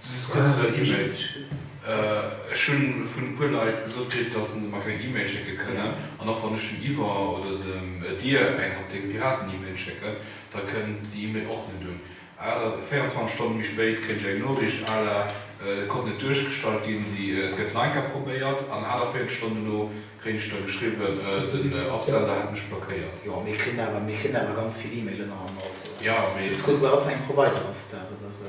Si si kuerz no der E-Mail. Ech hunn vun e puer Leit gesot kritt, datt se mer keng E-Mail schécke kënnen. An och wann ech dem Yver oder dem Dir eng op dee Piraten-E-Mail schécken, da kënnt déi E-Mail och net un. Awer 24 Stonne méi spéit kréien ech eng Noriicht à la Et konnt net duerchgestallt ginn, si gëtt nach eng Kéier probéiert. An 48 Stonnen duerno kréien ech da geschriwwen, den Absender hätt mech blockéiert. Jo, mir kritt awer, mir kritt awer ganz vill E-Mailen an. Also, ech kucke bei wat fir engem Provider ass dat oder esou.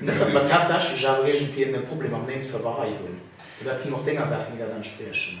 Net datt mer tatsächlech awer iergendwéi en Problem mam Name Server hei hunn, well dat ginn och denger Saach méi dat entspriechen.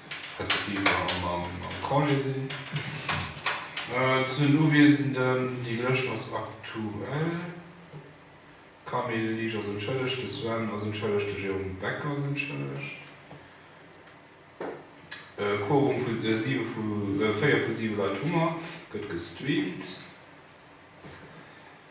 respektiv am Congé sinn. Zu den Uwiesenden, déi Lëscht ass aktuell, D'Camille Lisch ass entschëllegt, de Sven ass entschëllegt, de Jérôme Becker ass entschëllegt. E Quorum vu siwe vu, véier vu siwe Leit hu mer, gëtt gestreamt.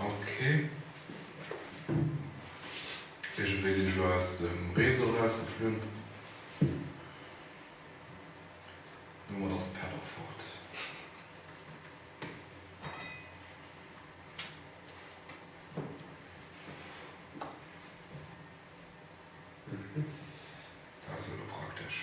Ok. Iergendwéi sinn ech elo aus dem Réseau erausgeflunn. Domat ass d'Pad och fort. Dat ass elo praktesch.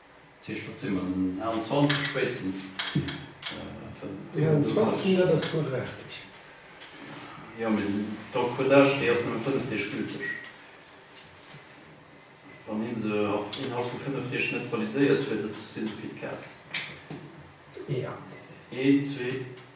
Tisch wat si mer den 21 spéitstens den 21 dat ass quadratesch. Jo mee d'Encodage déi ass nëmme 5 Deeg gülteg wann een se innerhalb vu 5 Deeg net validéiert huet si se fir d'Kaz. Een zwee.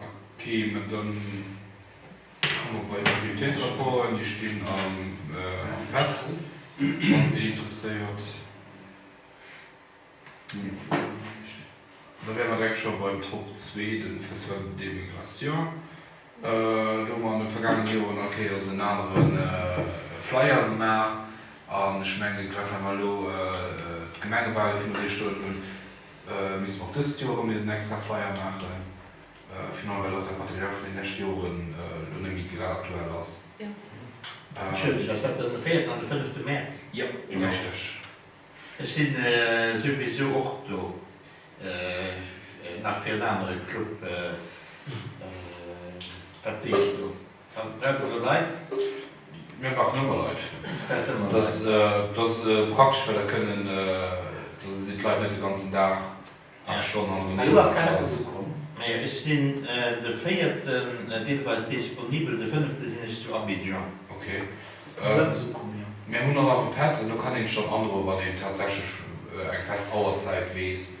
Ok, mä da komme mer bei de Bulletinssupporten. Déi stinn am Pad, wann ee interesséiert. Da wäre mer direkt scho beim Top 2, dem Festival des migrations. Do hu mer an de vergaangene Joren all Kéiers en anere Flyer gemaach. An ech mengen, grad well mer elo d'Gemengewale viru Dir stoen hunn, Misst mer och dëst Joer erëm nees en extra Flyer maachen, final well och dat Material vun den leschte Joren elo net méi grad aktuell ass. Ass dat dann de véierten an de fënnefte Mäerz? Jo, richteg. Ech si souwisou och do, nach fir en anere Club, dat deeg do. Kann Brett oder Leit? Mir maachen ëmmer Leit. Dat ass praktesch, well da kënnen, da sinn d'Leit net de ganzen Dag, 8 Stonnen hannert dem Mikro am Stand. Mee ech sinn de Véierten deelweis disponibel, de Fënnefte sinn ech zu Abidjan. Ok. Mir hunn och nach e Pad, an do kann een schonn androen, wann een tatsächlech eng fest Auerzäit weess.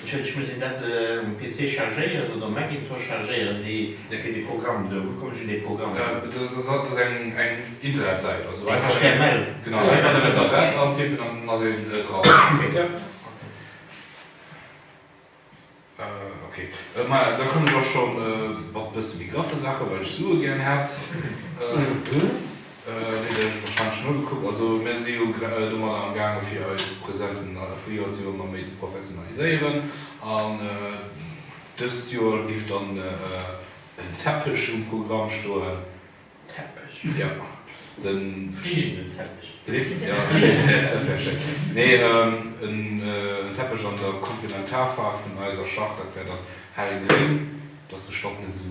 Entschëlleg, ech muss een dat um PC chargéieren oder um Macintosh chargéieren, dee, fir dee Programm do? Wou kommen ech un dee Programm? Dat ass eng Internetsäit, also einfach den. Eng html? Genau, einfach nëmmen d'Adress antippen an dann ass een dran. Okay. Ja. Okay, ma ja, da komme ech och scho mat e bësse méi graffe Saachen, well ech Sue gären hätt. Also mir si jo domadder am gaange fir eis Presenzen vu Joer zu Joer méi ze professionaliséieren an dëst Joer giff dann en Teppech um Programm stoen. Teppech? Jo, de fliegenden Teppech. Nee, en Teppech an der Komplementarfaarf vun eiser Schach, dat wär dann hellgréng, dass de Stopp net esou.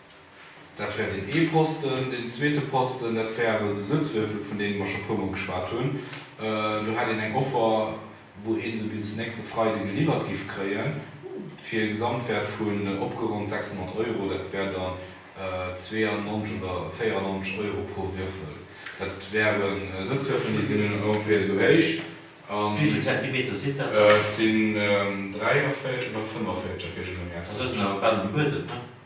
Dat wär deen ee Posten. Deen zweete Posten, dat wär awer esou Sëtzwierfel, vun deene mer scho e puer Mol geschwat hunn. Do hätt een eng Offer, wou ee se bis nächste Freide geliwwert giff kréien, fir e Gesamtwäert vun opgeronnt 600 Euro. Dat wär dann 92 oder 94 Euro pro Wierfel. Dat wäre Sëtzwierfel, déi sinn ongeféier esou héich. Wéi vill Zentimeter sinn dat dann? Et sinn 43 oder 45, da kritt een e Mäerz. Also et ass awer bal um Buedem, ne?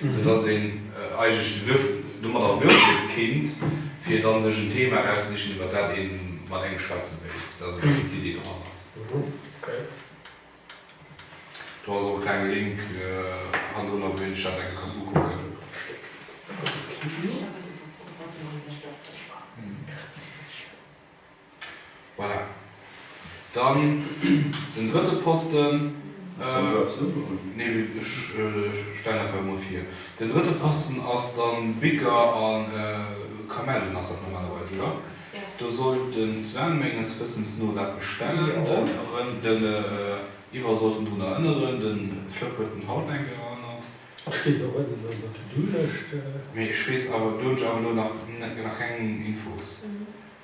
sou dass een eigentlech den Duerf domat erwürge kinnt, fir dann sech en Thema erauszezichen, iwwert dat een mat engem schwätzen wéilt. Dat ass e bëssen d'Idee dohannert. Do ass och e klenge Link hannendrunner, wou een sech dat enke kann ukucken. Voilà. Dann den drëtte Posten. Hues de eppes ugeholl? Nee, ech stellen einfach emol vir. Den drëtte Posten ass dann Bicker a Kamellen ass dat normalerweis, oder? Jo. Do soll den Sven menges Wëssens no dat bestellen. Den Ivar sollt en drun erënneren. Den Flëpp huet en haut eng Kéier erënnert. A steet och ënnen an der To-Do-Lëscht. Mee ech weess awer, do hunn ech awer elo nach keng Infos.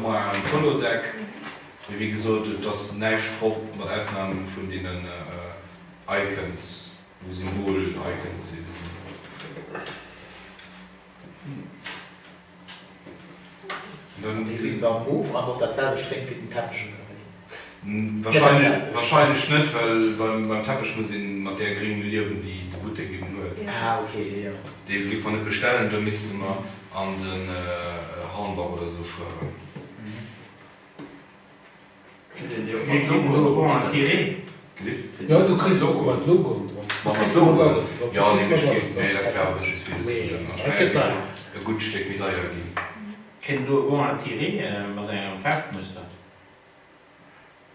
Moi am Holodeck, mee wéi gesot et ass näischt drop, mat Ausnam vun deenen Icons, wou Symbol Icons sinn. Déi sinn dann moof an och dat selwecht Réimchen den Teppech ënnerwéi. Wahrscheinlech net, well beim Teppech muss ee mat där Gréng liewen, déi de Buttek eben huet. Dee géif mer net bestellen, do misste mer an de Hornbach oder esou fueren.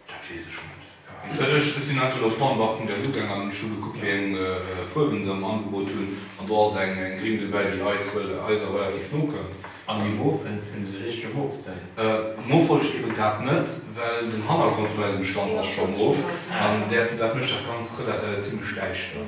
Dat weess ech net. Ech sinn aktuell op Hornbach.lu gaangen an ech hu gekuckt, wéi eng Fuerwen se am Angebot hunn. An do ass eng gring dobäi, déi eis Eiser relativ no kënnt. An déi mof, fënnt se richtege mof dann? Mof wollt ech ebe grad net, well den Hannergrond vun eisem Stand ass scho mof an dat mécht dat Ganzt zimmlech däischter.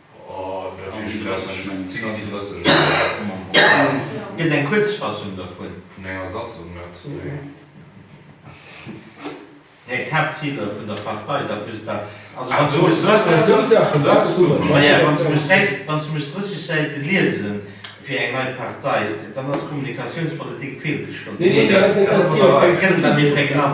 Gëtt eng Kuerzfassung dervun. Här Kapp, d'Ziler vun der Partei, dat muss da. Also, wann se muss 30 Säite liese fir eng nei Partei, dann ass d'Kommunikatiounspolitik feelgeschloen. Gëtt et da méi pregnant?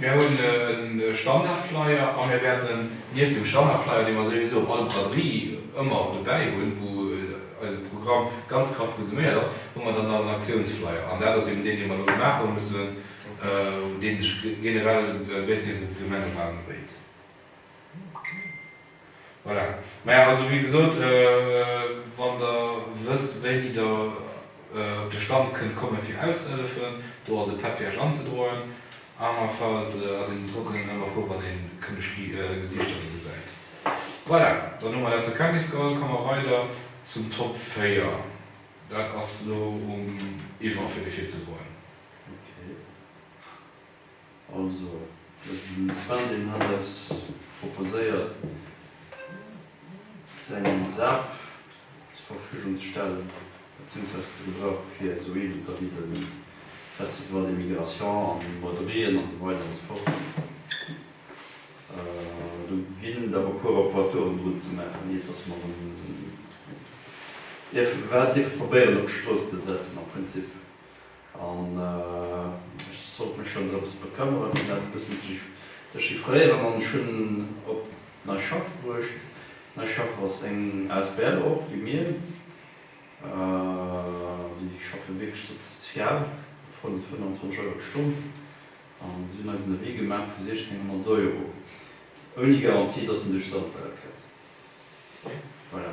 Mir hunn e Standardflyer a mir wäerten nieft dem Standardflyer, dee mer souwisou op all Braderie ëmmer dobäi hunn, wou eise Programm ganz graff resuméiert ass, hu mer dann nach en Aktiounsflyer. An dat ass eben deen, dee mer elo maache mussen, dee sech generell gréisstendeels un d'Gemenge eranbéit. Voilà. Mä also wéi gesot, wann Der wësst, wéini Der op de Stand kënnt komme fir auszehëllefen, do ass e Patgage anzedroen. Anerfalls ass een trotzdeem ëmmer frou, wann ee kënneg Gesiichter do gesäit. Voilà, dann hu mer dat zur Kenntnis geholl. Komme mer weider zum Top 4. Dat ass elo um Yvan fir dee virzegoen. Okay. Also, den Sven, deen hat eis proposéiert, säin LSAP zur Verfügung ze stellen, beziehungsweise ze gebrauchen, fir esou Eventer wéi de Festival des Migrations an de Moderieen an esou weider an esou fort. Do ginn der e puer Reparaturen drun ze maachen, iert dass mer en dierf, wat dierf probéieren op d'Strooss ze setzen am Prinzip. An ech sollt mech schonns eppes bekëmmere fir dat e bëssen ze chiffréieren an ech hunn op d'Neischaff bruecht. D'Neischaff ass eng asbl och wéi mir. Déi schaffe wierklech sozial, mat 25 Euro d'Stonn an si hunn eis en Devis gemaach vu 1600 Euro, ouni Garantie, datt en duerch Sandweiler kënnt. Voilà.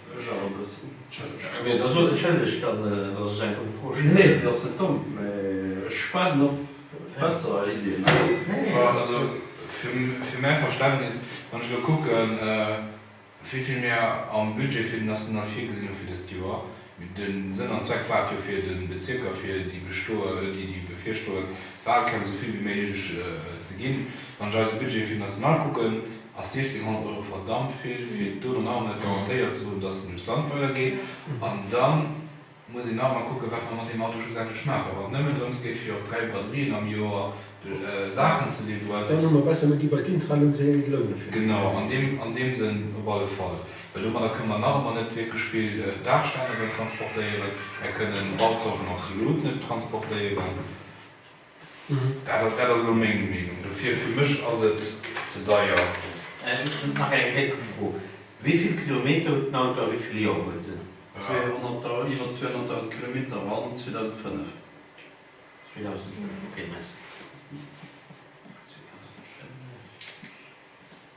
Ech awer e bëssen. Entschëllegt. Mee da sot entschëllegt dann, datt ech eng domm Fro stellen. Nee, déi ass net domm, mee ech waarden op besser Iddien. Nee, nee, alles gutt. Also, fir mäi Verständnis, wann ech elo kucken, wéi vill mir am Budget fir den National virgesinn hu fir dëst Joer, de Sënn an Zweck war et jo fir de Bezierker, fir déi bevirstoend Walkämpf esou vill wéi méiglech ze ginn, wann ech eise Budget fir den National kucken, A 1600 Euro verdammt vill, fir do dann awer net garantéiert ze hunn, dass en duerch d'Sand weidergeet. An da muss een nach emol kucken, wat mer mat deem Auto schlussendlech maachen. Wann et nëmmen drëms geet, fir op dräi Braderien am Joer Saachen ze liwweren. Dann hu mer besser net déi bei d'Intralux, esou eng et lounen, fir déi Joer. Genau, an deem Sënn op alle Fall. Well domadder kënnen mer nach ëmmer net wierklech vill Daachständercher transportéieren. Mer kënnen Bauzorten absolut net transportéieren. Dat ass elo meng Meenung dofir. Fir mech ass et ze deier. Nach eng déck Fro, Wéivill Kilometer huet den Auto a wéivill Joer huet en? Iwwer 200.000 Kilometer, Wann 2005. 2005, ok, merci.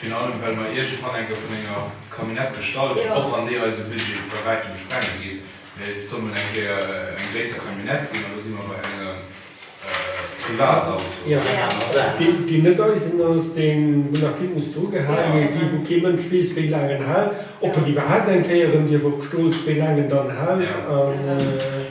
Virun allem, well mer iergendwann eng vun enger Camionnette bestallen, och wann déi eise Budget bei wäitem sprenge géif, mä et soll mol eng Kéier eng gréisser Camionnette sinn, an do si mer bei engem Privatauto, bei enger aner Saach. Déi net eisen ass, dee wou nach vill muss drugehale ginn, déi wou kee Mënsch weess wéi laang en hält, ob en iwwerhaapt eng Kéier erëm dierf op d'Strooss, wéi laang en dann hält.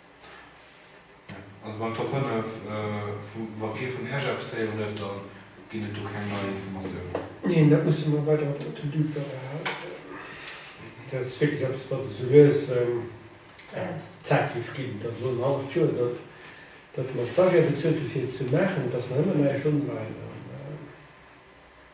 Also beim Top 5 vum Vampir vun Esch eppes héieren huet, da ginn et do keng nei Informatiounen. Neen, dat musse mer weider op der To-Do behalen. Dat ass wierklech eppes, wat esou lues Zäit géif ginn. Et ass elo en halleft Joer, datt mer Stagiaire bezuelt hu fir et ze maachen, et ass nach ëmmer näischt online.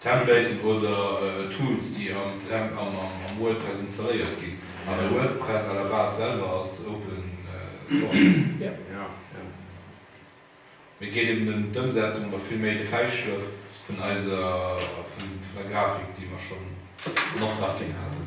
Templaten oder Tools déi am Temp an am WordPress installéiert ginn. An WordPress à la base selwer ass open source. Mee geet eben em d'Ëmsetzung oder vill méi de Fäischlëff vun eiser vun der Grafik déi mer schonn an Optrag ginn haten.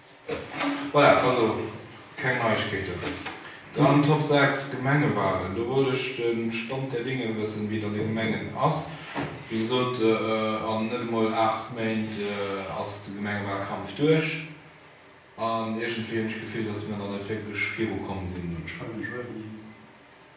Voilà, also keng Neiegkeeten. Dann Top 6, Gemengewahlen. Do wollt ech de Stand der Dinge wëssen, wéi et an de Gemengen ass. Wéi gesot, an net emol aacht Méint ass de Gemengewahlkampf duerch. An iergendwéi hunn ech d'Gefill, dass mer nach net wierklech virukomm sinn.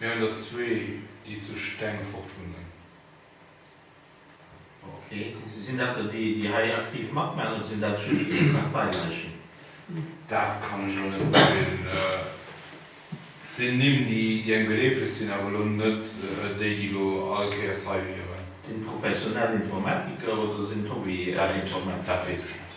Mir hunn der zwee, déi zu Stengefort wunnen. Ok, sinn dat der déi, déi hei aktiv matmaachen, oder sinn dat just esou Parteileichen? Dat kann ech elo net beurteelen. Et sinn Nimm, déi engem geleefeg sinn, awer elo net déi, déi elo all Kéiers hei wieren. Sinn et professionell Informatiker oder sinn et Hobby-Informatiker? Dat weess ech net.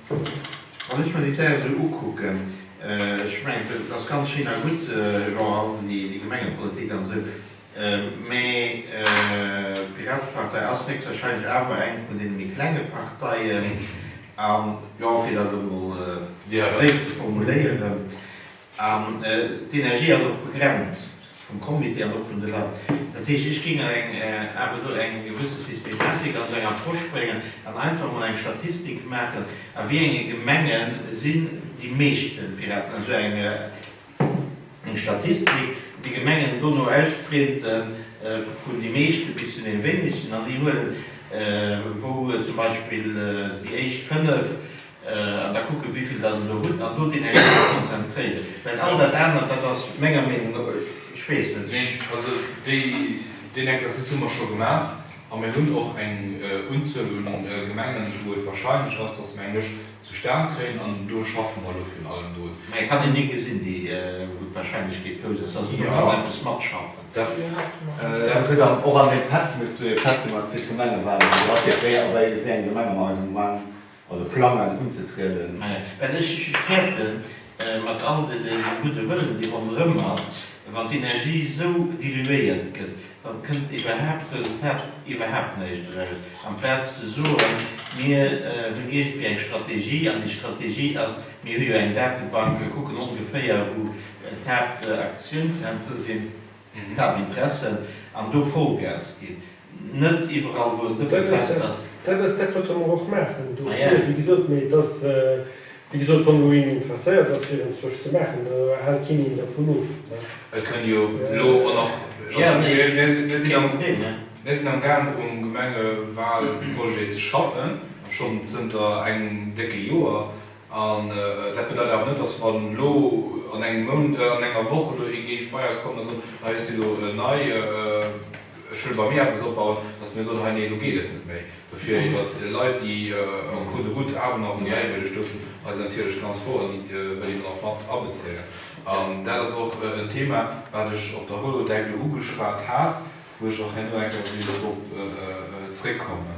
Wann ech mer déi Zäit esou ukucken, ech mengen, et ass ganz schéin a gutt, Jean Halden, déi Gemengepolitik an esou, mä d'Piratepartei ass héchstwahrscheinlech awer eng vun deene méi klenge Parteien an, jo, fir dat emol déif ze formuléieren, An d'Energie ass och begrenzt vum Comité an och vun de Leit. Dat heescht, ech géing awer do eng gewësse Systematik an esou eng Approche bréngen an einfach emol eng Statistik maachen, a wéi enge Gemenge sinn déi meeschte Piraten. Esou eng Statistik, déi Gemengen dono austreten, vun déi meeschte bis zu deene wéinegsten, an déi huelen, wou zum Beispill déi éischt fënnef, An da kucken, wéi vill Der do hutt, an do deen Ex emple konzentréieren. Well all dat anert, dat ass menger Meenung no, ech weess net, ech. Also déi, deen Exercice hu mer scho gemaach. A mir hunn och eng Unzuel u Gemengen, wou et wahrscheinlech ass, dass mer eng Lëscht zustan kréien. An do schaffe mer elo virun allem drun. Mä et kann een déi gesinn, déi, wou d'Wahrscheinlechkeet grouss ass, dass een do kann eppes matschaffen. Dat gëtt dann och an deem Pad, wou ech zu Iech schwätze mat fir d'Gemengewalen, do ass jo, wéi eng Gemenge mer eis am Moment. Also plangen unzetrieden. Well ech fäerten, mat all dem gudde Wëllen, dee ronderëm ass, wann d'Energie esou diluéiert gëtt, da kënnt iwwerhaapt Resultat iwwerhaapt näischt eraus. Amplaz ze soen, mir hunn iergendwéi eng Strategie, an déi Strategie ass, mir hu jo eng Datebank, mir kucken ongeféier, wou d'Haaptaktiounszentre sinn, Table dressen an do Vollgas ginn, net iwwerall wou en Dëppe fest ass. Dat ass dat wat der mer och maachen do vir, wéi gesot. Mee et ass wéi gesot, wann do een interesséiert ass fir en zwësch ze maachen, do hält keen een dervun of. Et kënn jo elo och nach, also mir sinn am, mir sinn am gaangen um Gemengewahlprojet ze schaffen, schonn zënter engem décke Joer. An dat bedeit awer net, dass wann elo an engem Mount, an enger Woch elo ee géif bei eis kommen a soen, hei, ech si elo nei, ech wëll bei mir eppes opbauen, dass mir soen, hei, nee, elo geet et net méi. Dofir iwwer Leit, déi en cours de route awer nach dobäiwëlleg stoussen, eis natierlech ganz frou an déi wëll een och mat abezéien. An dat ass och en Thema, wat ech op der Holodeck elo ugeschwat hat, wou ech och herno eng Kéier wéilt drop zréckkommen.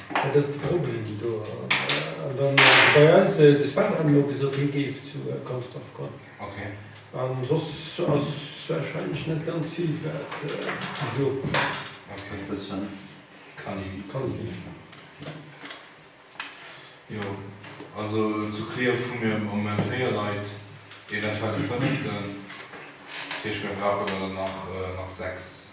Dat ass de Problem do. An da bei eis, de Sven hat emol gesot, hie géif zu Consdorf goen. An soss ass warscheinlech net ganz vill wat ze soen. Calvi. Jo, also zu Clierf hu mir am Moment 4 Leit, eventuell e fënneften. Dat heescht, mir brauchen der dann nach 6.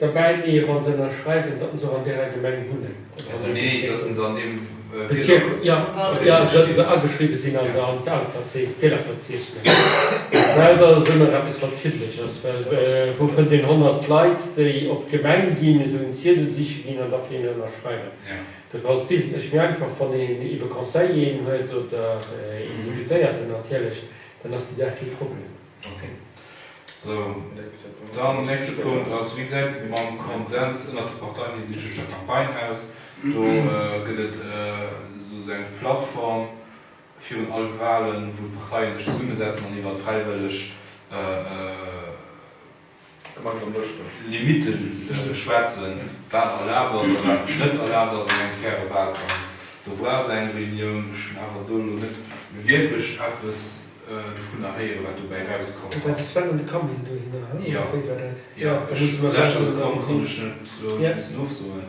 Derbäi mee wann se ennerschreiwen datt en se och an däerer Gemeng wunnen oder an deem Bezierk wunnen, jo jo datt se ageschriwwen sinn an der an all Fehlerverzeechnes, well datt ass ëmmer eppes wat kiddelech ass, well wou fënnt een 100 Leit déi op d'Gemeng ginn, esou en Ziedel siche ginn an da fir een ennerschreiwen. Dofir ass et wesentlech méi einfach wann een ebe Conseiller een huet oder een Deputéierten natierlech, dann ass déi Saach kee Problem. Ok. Sou, dann nächste Punkt ass, Wéi gesäit et mam Konsens ënnert de Parteien hinsichlech der Campagne aus? Do gëtt et esou eng Plattform virun all Walen, wou d'Parteien sech zesummesetzen an iwwert fräiwëlleg, Limite schwätzen, wat erlaabt ass a wat net erlaabt ass an engem faire Wahlkampf. Do brauch se eng Reunioun. Ech hunn awer do elo net wierklech eppes dovunner héieren, wat dobäi erauskommen ass. Jo, jo, ech war lescht Joer gekommen, konnt ech net elo abschliessen ofsoen.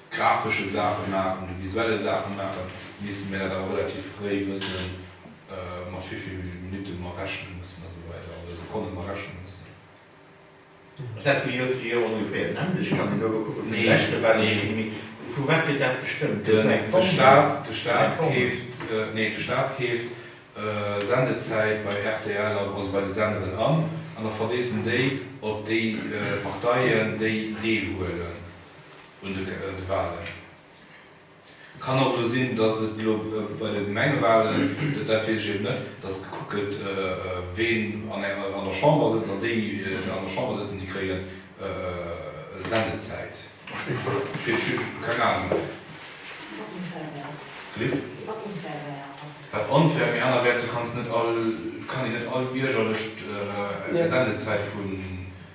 grafesche Saache maachen oder visuelle Saache maachen, misste mir dat awer relativ fréi wëssen, mat wéi vill Minutte mer rechne mussen a sou weider, oder Sekonne mer rechne mussen. Ass dat vu Joer zu Joer ongeféier den änlech? Kann een do elo kucke vun de leschte war et e bësse méi? Vu wat gëtt dat bestëmmt? Gëtt do eng Formel? Nee, de Staat keeft Sendezäit bei rtl an, also bei de Senderen an, an da verdeelt en déi op déi Parteien, déi deelhuelen. un de Wahlen. Kann och elo sinn, datt et elo bei de Gemengewahlen, dat weess ech eben net, datt gekuckt gëtt, ween an der Chamber sëtzt, an déi, déi an der Chamber sëtzen, déi kréien Sendezäit. Keng Ahnung. Wat onfair wär. Anerwäerts, du kanns net all, kann een net all Bierger lech d'Sendezäit vun.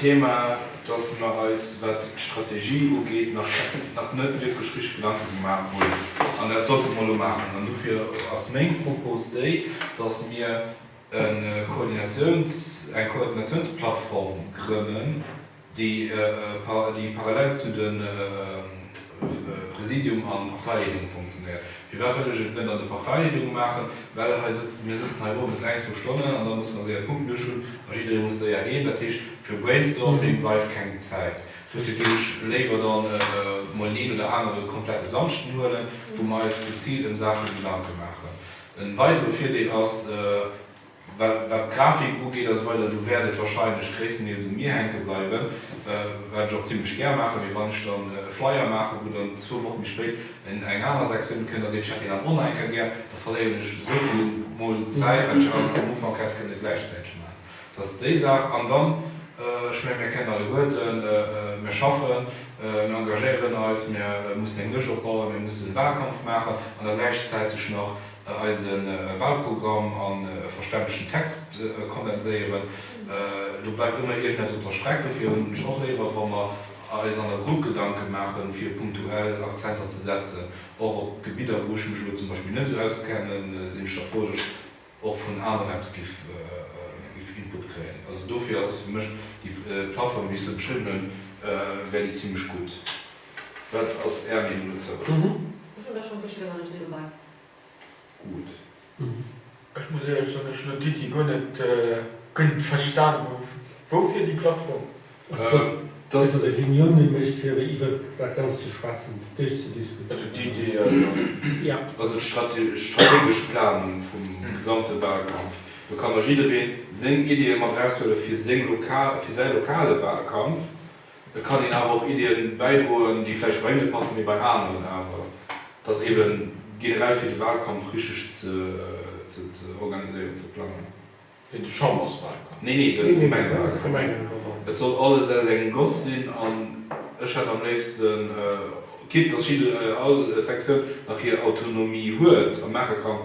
Thema, dass mer eis, wat d'Strategie ugeet, nach net wierklech richteg Gedanke gemaach hunn. An dat sollte mer elo maachen. An dofir ass meng Propos déi, dass mir eng Koordinatiounsplattform grënnen, déi parallel zu de. Präsidium an Parteileedung funktionéiert. Firwat huet ech et net an de Parteileedunge maachen? Well hei sëtzen, mir sëtzen hei owes eng, zwou Stonnen an da muss mer séier Punkt luecht hunn a jidderee muss séier heem. Dat heescht, fir Brainstorming bleift keng Zäit. Dofir géif ech léiwer dann emol deen oder anere komplette Samschden huelen, wou mer eis geziilt ëm Saache Gedanke maachen. E weidere Virdeel ass, Wat d'Grafik ugeet ass weider, do wäert et warscheinlech gréisstendeels u mir hänke bleiwen, wat ech och zimlech gär maachen, mee wann ech dann e Flyer maachen, wou dann zwou Woche méi spéit eng aner Sektioun kënnt a seet, ech hätt deen am Oneinker gär, da verléieren ech esou vill mol Zäit, wat ech am Ufank hätt kënne gläichzäiteg maachen. Dat ass déi Saach. An dann, ech menge mir kennen alleguerten, mir schaffen, mir engagéieren eis, mir mussen eng Lëscht opbauen, mir mussen e Wahlkampf maachen an da gläichzäiteg nach eise Wahlprogramm an e verständlechen Text kondenséieren. Do bleift ëmmer iergendeppes op der Streck. Dofir hunn ech och léiwer, wa mer eis an der Grupp Gedanke maachen, fir punktuell Akzenter ze setzen, och op Gebidder, wou ech mech elo zum Beispill net esou auskennen, sinn ech der Fro, datt ech och vun aneren eppes giff Input kréien. Also dofir ass fir mech déi Plattform, wéi ech se beschriwwen hunn, wär déi zimlech gutt. Wat ass Är Meenung dozou? Ech hunn der schonn e bësche gérann eppes viru gemaach. Ech muss éierlech soen, ech hun elo d'Iddi guer net guer verstan. Woufir déi Plattform? Dass e Reuniounen mécht fir iwwert dat Ganzt ze schwätzen, fir d'éischt ze diskutéieren. Also d'Iddi, jo. Also d'strategesch Planung vum gesamte Wahlkampf. Do kann da jidderee seng Iddie mat eraushuele fir säi lokale Wahlkampf. Et kann een awer och Ideeën bäidroen, déi vläicht bei engele passen, mee bei aneren awer dass eben generell fir de Wahlkampf richteg ze organiséieren, ze plangen. Fir de Chamberswahlkampf? Nee, nee, de Gemengewahlkampf. Et soll alles aus engem Goss sinn an ech hätt am léifsten, quitte dass jidde, all Sektioun nach hir Autonomie huet a maache kann,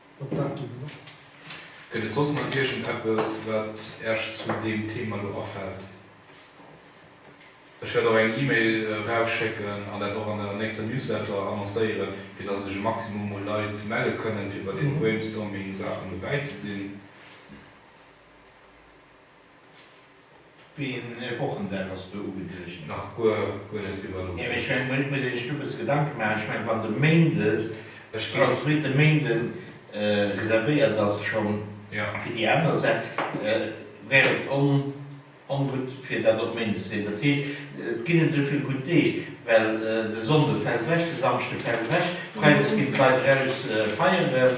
Gëtt et soss nach iergendeppes, wat Äech zu deem Thema do afält? Ech wäert och eng E-Mail erausschécken an dat och an der nächster Newsletter annoncéieren, fir datt sech e Maximum u Leit melle kënnen, fir bei deene Brainstorming-Saachen dobäi ze sinn. Wéi een Wochendag ass do ugeduecht? Nach guer guer net driwwer nodenkt. Ech mengen, et muss ee sech do bësse Gedanke maachen. Ech mengen, wann de Méindes, Ech ginn. als zweete Méinde reservéiert ass schonn Ja. fir déi aner Sa wär et on ongutt, fir dat op Méindes ze leeën. Dat heescht, et ginn net esou vill gutt Deeg, well de Sonnde fält ewech, de Samschde fält ewech, freides ginn d'Leit eraus feieren.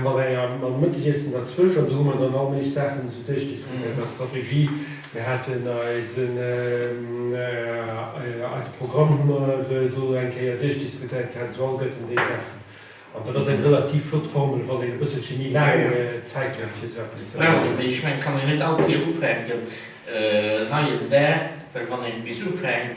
Mat engem mam Mëttegiessen derzwësch, an do hu mer dann allméiglech Saachen esou duerchdiskutéiert a Strategie. Mir haten eisen, eise Programm hu mer do eng Kéier duerchdiskutéiert gehat, esou all Gëtt en déi Saachen. An dat ass eng relativ flott Formel, wann een e bësselche méi laang Zäit huet, fir esou eppes ze maachen. Brauch een, mee ech mengen, et kann een net all Kéier ufänken, en neien Dag, well wann een nees ufänkt,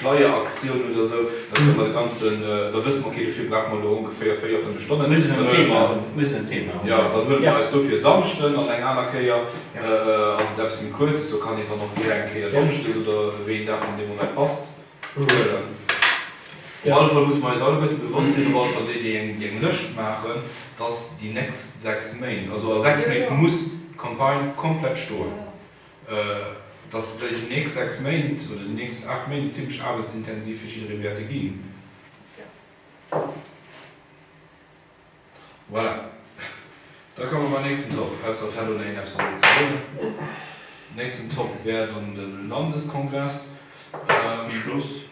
Flyer-Aktioun oder esou, da kënne mer de ganzen, da wësse mer, okay, dofir brauche mer elo ongeféier véier, fënnef Stonnen, Mir dann huele mer, mir en Thema hunn. Jo, dann huele mer eis dofir e Samschden an eng aner Kéier ass et eppes méi Kuerzes, do kann een dann och gär eng Kéier donneschdes oder wéi een Dag dann dee Moment passt, huelen. Op alle Fall musse mer eis alleguerte bewosst sinn, op alle Fall déi, déi eng Lëscht maachen, dass déi nächst sechs Méint, also a sechs Méint muss d'Campagne komplett stoen. dass déi nächst sechs Méint oder déi nächst aacht Méint zimlech aarbechtsintensiv fir jidderee wäerte ginn. Voilà. Da komme mer nächsten Top, ausser et hätt een een eppes dozou ze soen. Den nächsten Top wär dann de Landeskongress. Schluss.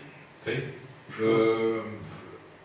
Wéi? Schluss.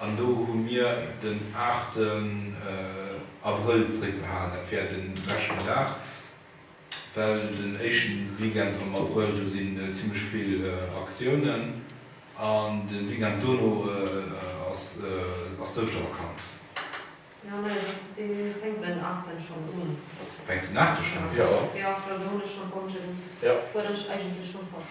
An do hu mir den 8 Abrëll zréckbehalen, dat wär de leschten Dag, well den éischte Weekend am Abrëll, do si zimmlech vill Aktiounen an de Weekend dono ass d'Ouschtervakanz. Jo, nee, dee fänkt den 8 schonn un. Fänkt den 8 schonn un? Jo. Jo, well do hunn ech schonn Congé, do fuerdere ech eigentlech schonn fort.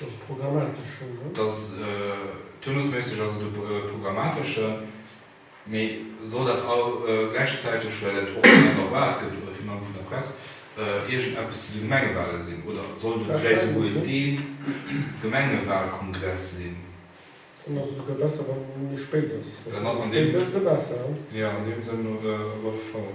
Dass e programmatesch Schong gëtt? Dass turnusméisseg ass et e programmateschen, mee soll dat gläichzäiteg, well dat och vun eis erwaart gëtt, oder virun allem vun der Press, iergendeppes zu de Gemengewale sinn? Oder sollt et vläicht souguer de Gemengewalkongress sinn? Dann ass et souguer besser, wann e méi spéit ass. Dann ass an deem. Desto besser. Jo, an deem Sënn op alle Fall.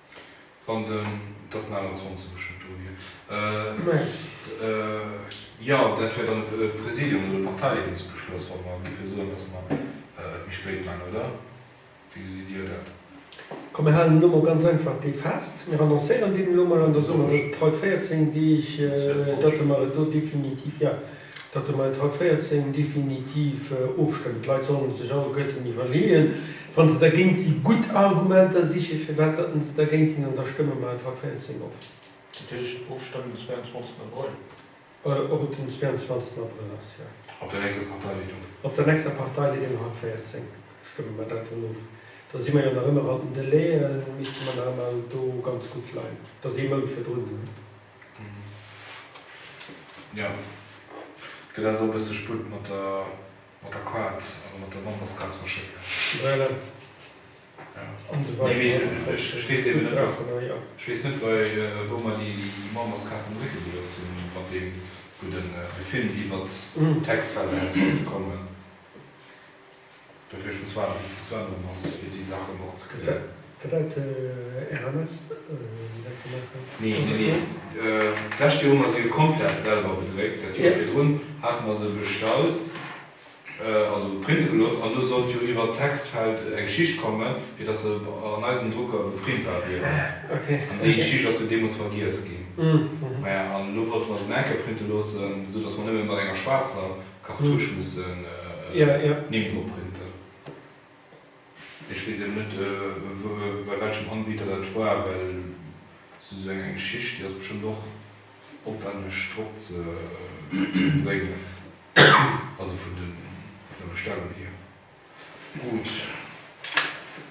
Wann den, et ass en 21 ech hunn et do hir, jo dat wär dann e Präsidium oder e Parteileedungsbeschloss, wa mer géife soen, datt mer et méi spéit maachen, oder wéi gesitt Dir dat? Komm mir halen elo mol ganz einfach dee fest, mir annoncéieren deen elo mol an da soe mer et haut 14 Deeg, datt mer et do definitiv, jo. datt e mat haut 14 definitiv ofstëmmt. D'Leit solle sech alleguerten iwwerleeën, wa se dergéint si gutt Argumenter siche firwat datt se dergéint sinn, an da stëmme mer et haut 14 of. Dat heescht, ofstëmmen den 22 Abrëll? Ob et den 22 Abrëll ass, jo. Op der nächster Parteileedung? Op der nächster Parteileedung haut 14 stëmme mer dat dann of. Da si mer jo nach ëmmer an den Délai, misste mer nach ëmmer do ganz gutt leien. Dat ass ee Mount virdrun. Jo, et gëtt also e bësse Sputt mat der Kaart, also mat der Memberskaart ze verschécken. Voilà. Mee ech weess eben net, ech weess net, wou mer déi Memberskaarten drécke gelooss hunn, mat deem, wou de Film iwwert d'Textfelder hätt sollte kommen. Dofir muss waarden bis de Sven erëm ass fir déi Saachen och ze klären. Wat deit RMS dat ze maachen? Nee, nee, nee. D'lescht Joer hu mer se jo komplett selwer bedréckt. Dat Joer virdrun hate mer se bestallt, also printe gelooss, an do sollt jo iwwert d'Textfeld eng Schicht kommen, fir dass se an eisem Drucker beprintbar wieren. An déi Schicht ass jo deemools vergiess ginn. Maja, an elo wollte mer se nach eng Kéier printe loossen, esou dass mer nëmme mat enger schwaarzer Cartouche mussen en Nimm drop printen. Ech weess eben net bei welchem Anbieter dat war, well et ass esou eng Geschicht, déi ass bestëmmt och opwänneg drop ze bréngen, also vun der Bestellung hier. Gutt,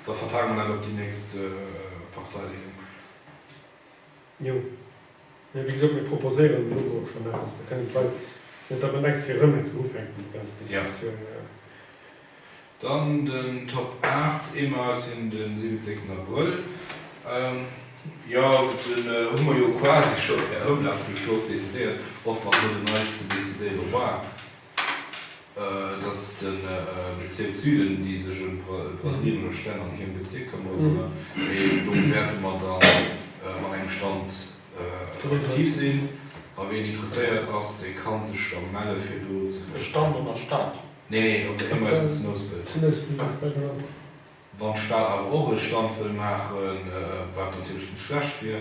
da vertagë mer dat op déi nächst Parteileeung. Jo, mee wéi gesot, mir proposéieren elo do och schonn eppes. Da kënnen d'Leit net da bedengs fir erëm eng Kéier ufänken, déi ganz Diskussioun. Dann den Top 8, ee Mars hin de siwwenzéngten Abrëll. Jo, den hu mer jo quasi scho per Houmlaf vun der Strooss decidéiert, och wann elo den neiste Decidéiere war. dass den Bezirk Süden déi sech em d'Brateriereler Stänn an hierem Bezirk këmmere sollen, mee do wäerte mer dann mat engem Stand aktiv sinn a wien interesséiert ass, dee kann sech da melle fir do ze kënnen. E Stand an der Stad? Nee, nee, op der Immesse zu Nouspelt. Zu Nouspelt, alles klar, genau. Wann d'Stad awer och e Stand wëll maachen, wat natierlech net schlecht wier.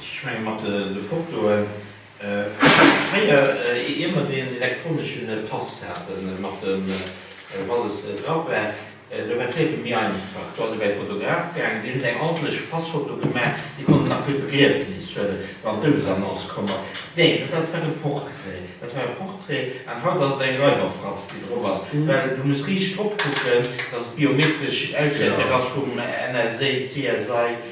Ech menge mat de Fotoen, fréier ier mer deen elektronesche Pass haten, mat dem wou alles dra war, do war d'Liewe méi einfach. Do ass ee bei de Fotograf gaangen, déi hunn eng ordentlech Passfoto gemaach, déi konnt een nach fir d'Begriefnis huelen, wann d'Doudsannonce komm ass. Nee, dat hat war e Portrait, dat war e Portrait, an haut ass et eng Reiwerfratz déi drop ass, well du muss riicht drop kucken, datt et biometresch auswäertbar ass vum NSA, CSI.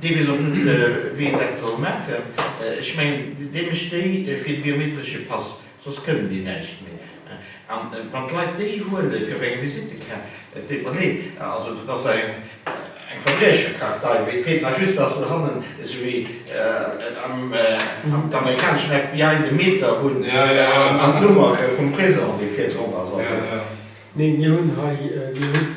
Dee weess och net, wéi en dat soll maachen. Ech mengen, dee mécht déi fir de biometresche Pass, soss kënnen déi näischt méi. An wann d'Leit déi huelen, fir op eng Visittekaart, et deet mer leed, also dat ass eng Verbriecherkartei, wéi et feelt nach just, datt se hannen, esou wéi am amerikaneschen FBI, de Meter hunn an d'Nummer vum Prisong, déi virdrop ass. Also, nee, mir hunn hei, mir hunn.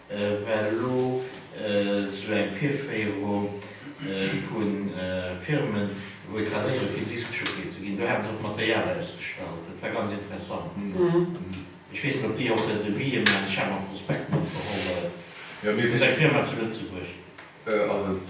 Well elo sou eng Virféierung vu Firmen, wou ee kann héieren, fir Diskjockey ze ginn, do hate se och Material ausgestallt, dat war ganz interessant. Ech weess net, ob déi och e Devis ëm eng Cham am Prospekt matgeholl huet. Dat ass eng Firma zu Lëtzebuerg. Ass et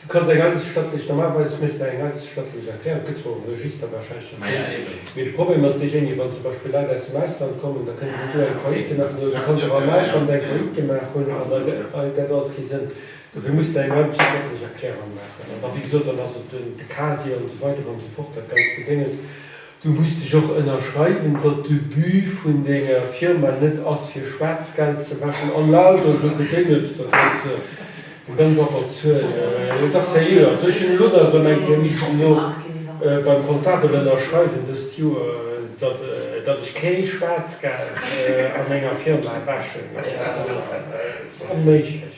Du kanns eng eideschtschrëftlech, normalerweis misst der eng eideschtschrëftlech Erklärung, et gëtt zwar um Register warscheinlech eng Form, mee de Problem ass deejéinege, wann zum Beispill Leit aus dem Ausland kommen, da kënnen déi do eng Faillite maachen, oder et kann sech och am Ausland eng Faillite gemaach hunn, an dann ergitt dat alles kee Sënn. Dofir muss der eng eideschtschrëftlech Erklärung maachen. An da, wéi gesot, dann ass et de Casier, an esou weider an esou fort, dat ganzt Gedénges. Du muss dech och ënnerschreiwen, datt de But vun denger Firma net ass fir Schwaarzgeld ze wäschen a lauter sou Gedéngels. Dat ass jo ganz absurd. Dach seriö, also ech hunn elo nach erëm eng Kéier missen elo beim Comptabel ënnerschreiwen dëst Joer, datt datt ech ké Schwaarzgeld a menger Firma wäschen. Dat ass onméiglech.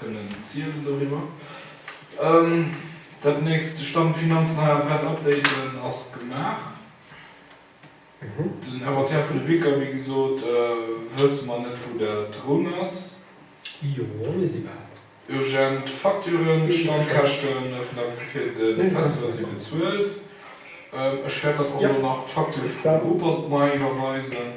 kënnen zielen doriwwer. Dat nächst, de Stand Finanzen hei awer updaten, ass gemaach. Den Inventaire vun de Bicker, wéi gesot, wësse mer net wou dat drun ass. Jo, mir si bal. Urgent Facturen, d'Standkäschte vun der fir de Festival si bezuelt. Ech wäert dann och elo nach d'Facture vum Rupert Ney iwwerweisen.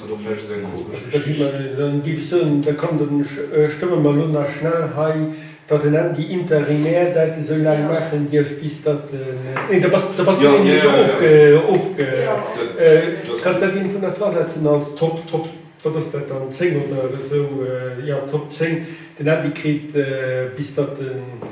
Oder vläicht ass eng komesch Geschicht. Da kommt en, ech stëmme mer elo nach schnell hei, datt en Ändy interimär dat esou laang maachen dierf, bis datt en, nee, da bass du nämlech ofge, kanns dat iergendwou nach drasetzen als Top, Top, wat ass dat dann, 10 oder esou, jo, Top 10, den Ändy kritt, bis datt en.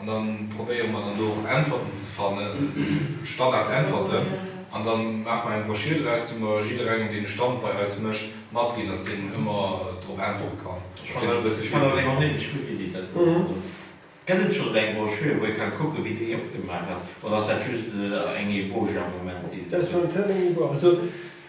An da probéiere mer dann do och Äntwerten ze fannen, Standardäntwerten. An da maache mer eng Broschür draus, déi mer jidderengem, deen e Stand bei eis mécht, matginn, dass deen ëmmer drop äntwere kann. Dat sinn elo e bësse vill Wierder. Gëtt et schonns eng Broschür, wou ee ka kucken, wéi déi opgemaach ass, oder ass dat just eng Ébauche am Moment, déi et do gëtt?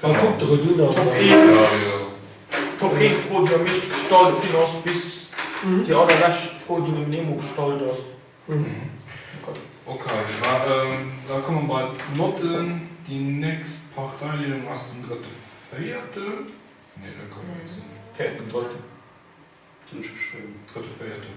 Dann kuck de Redun an dann. D'Éischt Fro, déi am meeschte gestallt ginn ass, bis déi allerlescht Fro, déi nom Nemo gestallt ass. Okay, da komme mer bei d'Notten. Déi nächst Parteideelung ass den drëtte Véierten. Nee, dat kann net sinn. Véierten Drëtten hunn ech geschriwwen. Drëtte Véierten.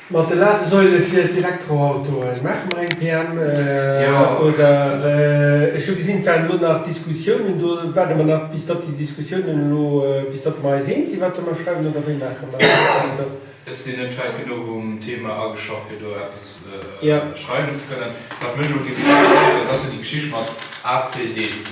Mat de Ladesäule fir d'Elektroautoen, maache mer eng PM oder? Ech hu gesinn, et waren elo nach Diskussiounen do. Waarde mer nach, bis datt déi Diskussiounen elo, bis datt mer eis eens sinn, wat der mer schreiwen, oder wéi maache mer dat? Ech sinn net wäit genuch um Thema ageschafft, fir do eppes schreiwen ze kënnen. Wat mech elo géif interesséieren, dat ass jo déi Geschicht mat ACDC.